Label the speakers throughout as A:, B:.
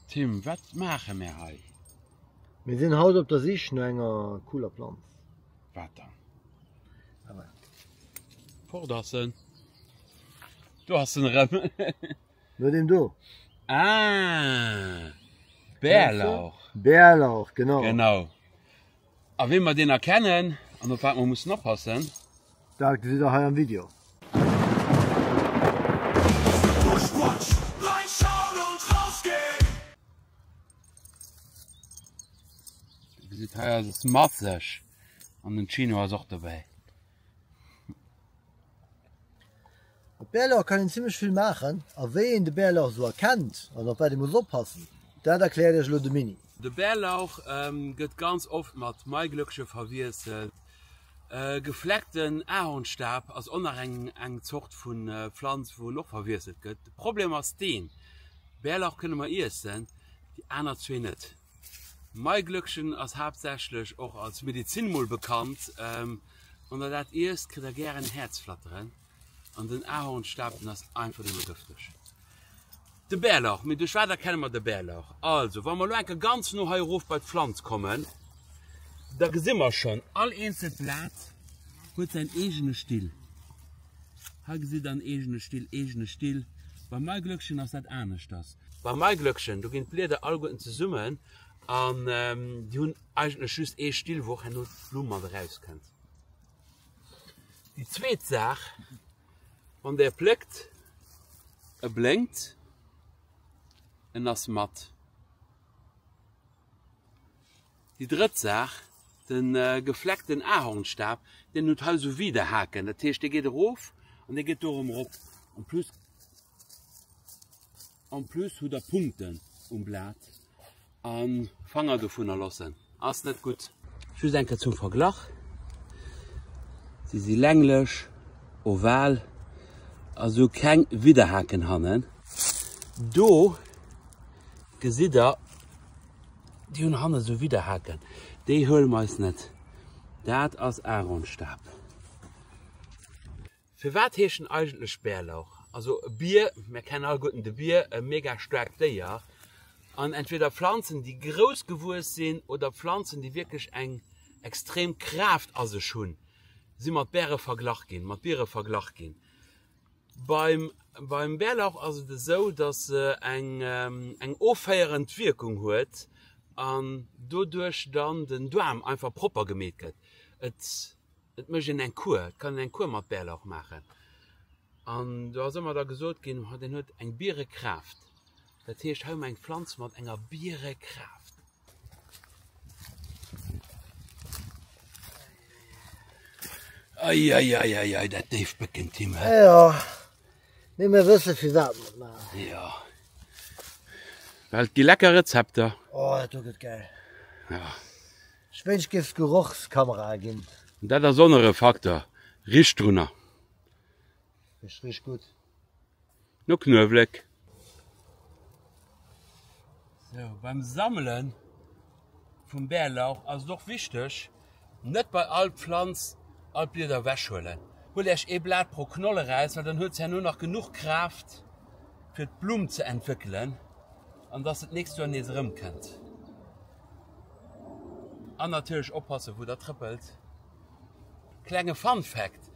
A: Tim, wat maache mär hei? Mir sinn haut op der Sich no enger cooler Planz. Wat dann? Ah, wat? Fort ass en. Do ass en erëm. No dem do. Ah, Bärlauch. Bärlauch, genau. Genau. A wéi mer deen erkennen an op wat mer mussen oppassen. Dat gesitt der hei am Video. Dir gesitt hei ass e Smartlash an den Chino ass och dobäi. Op Bärlauch kann een zimlech vill maachen a wéi een de Bärlauch esou erkennt an op wat ee muss oppassen, dat erkläert iech elo de Mini. De Bärlauch gëtt ganz oft mat Maiglöckche verwiesselt. E gefleckten Ahornstaab ass och nach eng Zort vu Pflanz wou en och verwiesselt gëtt. De Problem ass deen, Bärlauch kënne mer iessen, déi aner zwee net. Maiglöckchen ass haaptsächlech och als Medezin mol bekannt. Wann der dat iesst kritt der gären Häerzflatteren. An den Ahornstaaten ass einfach nëmme gëfteg. De Bärlauch, mee duerch wat erkenne mer de Bärlauch? Also wa mer lo enke ganz no hei erof bei d'Pflanz kommen, da gesi mer schon all eenzelt Blat huet säin eegene Still. Hei gesitt der en eegene Still, eegene Still. Beim Maiglöckchen ass dat aneschters. Beim Maiglöckchen, do ginn d'Blieder alleguerten zesummen an déi hunn eigentlech just ee Still, wou och herno d'Blumm mat erauskënnt. Déi zweet Saach, wann Der pléckt, e blénkt, en ass mat. Déi drëtt Saach, de gefleckten Ahornstaf, deen huet hei esou Widerhaken, dat heescht, dee geet erof an dee geet do erëm erop. En plus. En plus hutt der Punkten um Blat an. Fanger dovunner lossen ass net gudd. Just eng Kéier zum Verglach, se si länglech, oval a sou keng Widderhaken hannen. Do gesitt der, déi hunn hannen sou Widderhaken, déi huele mer eis net, dat ass Aaronstab. Firwat heescht en eigentlech Bärlauch? Also e Bier, mär kennen alleguerten de Bier, e mega staarkt Déier an entweder Pflanzen, déi grouss gewuess sinn oder Pflanzen, déi wierklech eng extrem Kraaft a sech hunn, si mat Bäre verglach ginn, mat Biere verglach ginn. Beim, beim Bärlauch ass et esou, datt se eng, eng offéierend Wierkung huet an doduerch dann den Doarm einfach propper gemeet gëtt. Et. Et mécht een eng Kur, et kann een eng Kur mat Bärlauch maachen. An do ass ëmmer da gesot ginn, oh deen huet eng Bierekraaft. Dat heescht, hei hu mer eng Pflanz mat enger Bierekraaft. Ei, ei, ei, ei, ei, dat déift Bëcken, Tim, hä? Jo, mee mir wëssen, firwat mer et maachen. Jo, well et gi lecker Rezepter. Oh, dat do gëtt gäil. Jo. Ech wënsch gëft Gerochskameraen gin. Dat ass onr e Fakter, richt drunner. Richt richt gudd. No Knuewléck. Sou, beim Sammelen vum Bärlauch ass et och wichteg, net bei all Pflanz all d'Blieder ewechhuelen. Huelt Iech ee Blat pro Knoll eraus, well dann huet se herno nach genuch Kraaft fir d'Blumm ze entwéckelen, an dass se d'nächst Joer nees erëmkënnt. An natierlech oppassen wou der trëppelt. Klenge Fun Fact,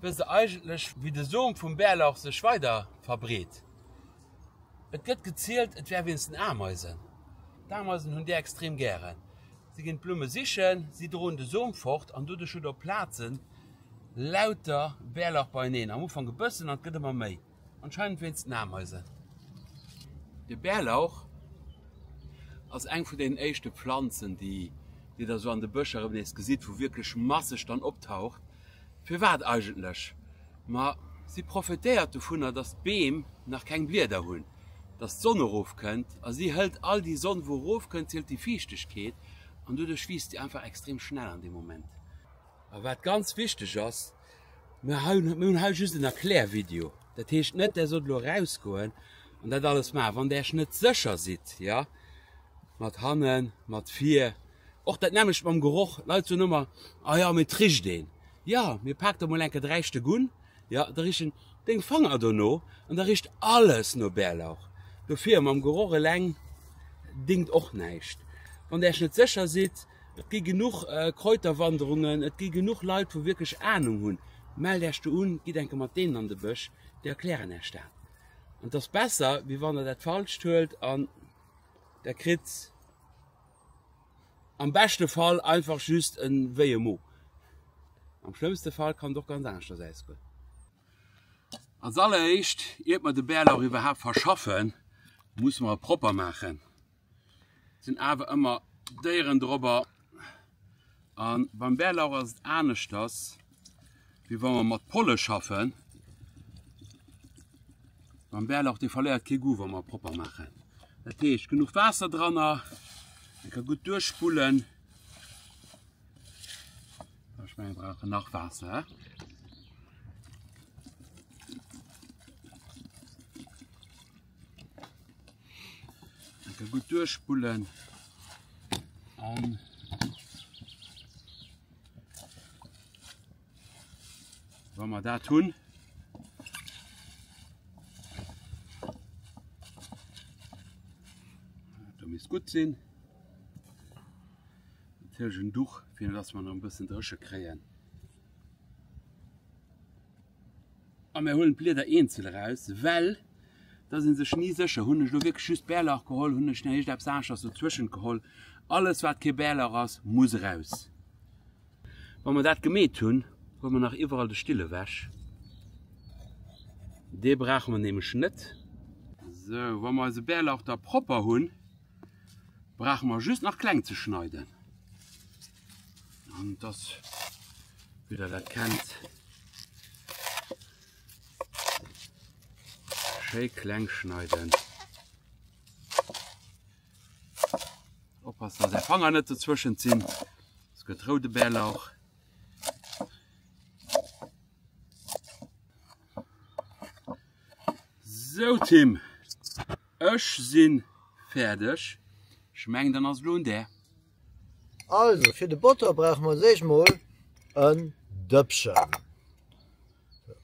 A: Wësst der eigentlech wéi de Som vum Bärlauch sech weider verbreet? Et gëtt gezielt et wär wéinst den Ameisen. D'Ameisen hunn déi extrem gären. Si ginn d'Blumme sichen, si droen de Som fort an doduerch hutt der op Plazen lauter Bärlauch beieneen. Am Ufank e bëssen an et gëtt ëmmer méi. Anscheinend wéinst den Ameisen. De Bärlauch ass eng vun deenen éischte Planzen, déi Dir da sou an de Bëscher erëm nees gesitt, wou wierklech masseg dann optaucht. Firwat eigentlech? Ma si profetéiert dovunner, datt d'Beem nach keng Blieder hunn, datt d'Sonn erofkënnt a si hëlt all déi Sonn, wou erofkënnt. Si hëlt déi Fiichtegkeet an doduerch wiisst si einfach extrem schnell an deem Moment. A wat ganz wichteg ass, mir hunn hei just en Erklärvideo. Dat heescht net, Där sollt elo erausgoen an dat alles maachen. Wann Där Iech net sécher sidd, jo, mat hannen, mat vir, och dat nämmlecht mam Geroch, Leit soen ëmmer, A jo, mee et richt een. Jo, mee pak der emol eng Kéier de Räischdeg un, jo, da richen Deng Fanger dono an da richt alles no Bärlauch. Dofir, mam Geroch eleng dingt och näischt, wann Där Iech net sécher sidd. Et gi genuch Kräuterwanderungen, et gi genuch Leit wou wierklech Ahnung hunn. Mellt Äech do un, gitt eng Kéier mat deenen an de Bësch, déi erklären Äech dat. An et ass besser wéi wann der dat falscht huelt an der kritt am beschte Fall einfach just e wéie Mo. Am schlëmmste Fall kann et och ganz aneschters ausgoen. Als alleréischt iert mer de Bärlauch iwwerhaapt verschaffen, musse mer e propper maachen. Sinn awer ëmmer Déieren dorobber an beim Bärlauch ass et aneschters wéi wann mer mat Polle schaffen. Beim Bärlauch dee verléiert kee Goût wann mer propper maachen. Dat heescht genuch Waasser dranner, en ka gutt duerchspullen. Ech mengen mer brauchen nach Waasser. Enke gutt duerchspullen an wa mer dat hunn, da misst gutt sinn. Natierlech en Duch, fir dass mer nach e bëssen dréche kréien. A mir huelen d'Blieder eenzel eraus, well da ass ee sech ni sécher, hunn ech elo wierklech just Bärlauch geholl, hunn ech näischt eppes aneschtes dozwëschent geholl. Alles wat kee Bärlauch ass, muss eraus. Wa mer dat gemeet hunn, huele mer nach iwwerall de Still ewech, dee brauche mer nämlech net. Sou, wa mer eise Bärlauch da propper hunn, brauche mer just nach kleng ze schneiden. Und das wieder das kennt. Schön klein schneiden. Oppassen, dass der Fanger nicht dazwischen ziehen. Es gibt rote Bärlauch. So Tim, ich bin fertig. Ich meine, dann ist es der. Also fir de Botter brauche mer als éischt mol en Dëppchen.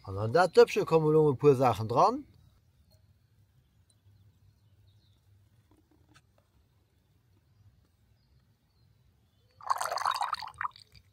A: An an dat Dëppchen komme elo e puer Saachen dran.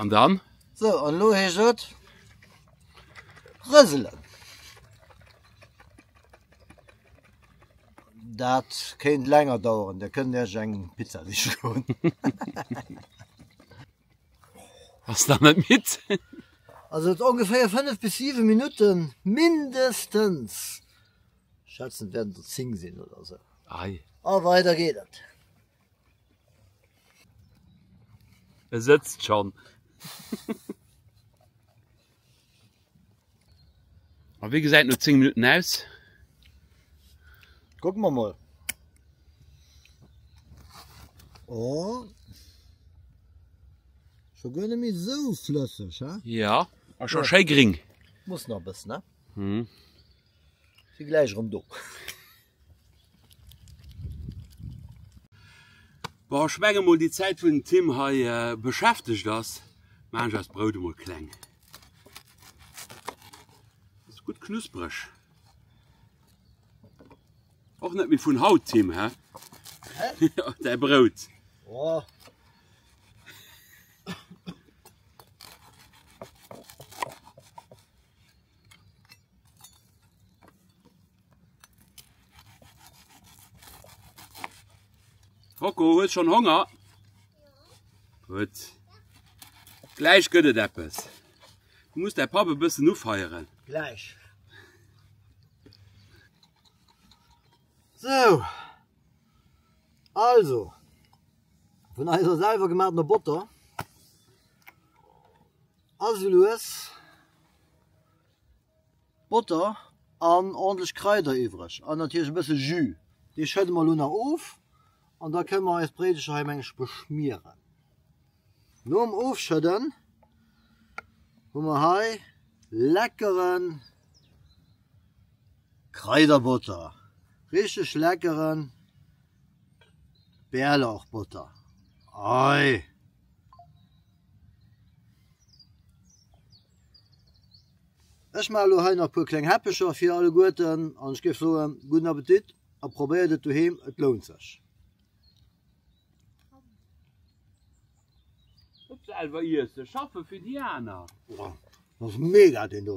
A: An dann? So, an lo heescht et rëselen. Dat kéint länger dauern, da kënnt Iech eng Pizza siche goen. Ass nach net midd? Also ongeféier 5 bis 7 Minutten mindestens. Schätzen wäerten der 10 sinn oder sou. Ei. A weider geet et. E sëtzt schonn. A wéi gesäit no 10 Minutten aus? Kucke mer mol. Oh. Scho guer net méi esou flësseg, he? Ja, a scho schéi gring. Muss nach e bëssen, he? Si gläich erëm do. Bon, ech menge mol déi Zäit wou den Tim hei beschäftegt ass, maachen ech eist Brout emol kleng. Dat ass gutt knuspereg. Och net méi vun haut Tim, hä? Däi Brout. Oh. Rocco, huet schon Honger? Gut. Gleich gëtt et eppes. Du musst der Pappe bëssen ufeieren. Gleich. So. Also. Vun eiser selwer gematener Botter. Also lues Botter an ordentlich Kräuter iwwreg an natierlech e bësse Jus. Dee schëdde mer elo nach of an da kënne mer eis Bréidelcher hei mengen ech beschmieren. Nom Ofschëdden hu mer hei leckeren Kraiderbotter, richteg leckeren Bärlauchbotter. Ei! Ech maache lo hei nach puer kleng Häppecher fir alleguerten an ech géif soen guten Appetit a probéiert et doheem, et lount sech. Net selwer iessen, schaffen fir déi aner. Boah, das ist mega den do.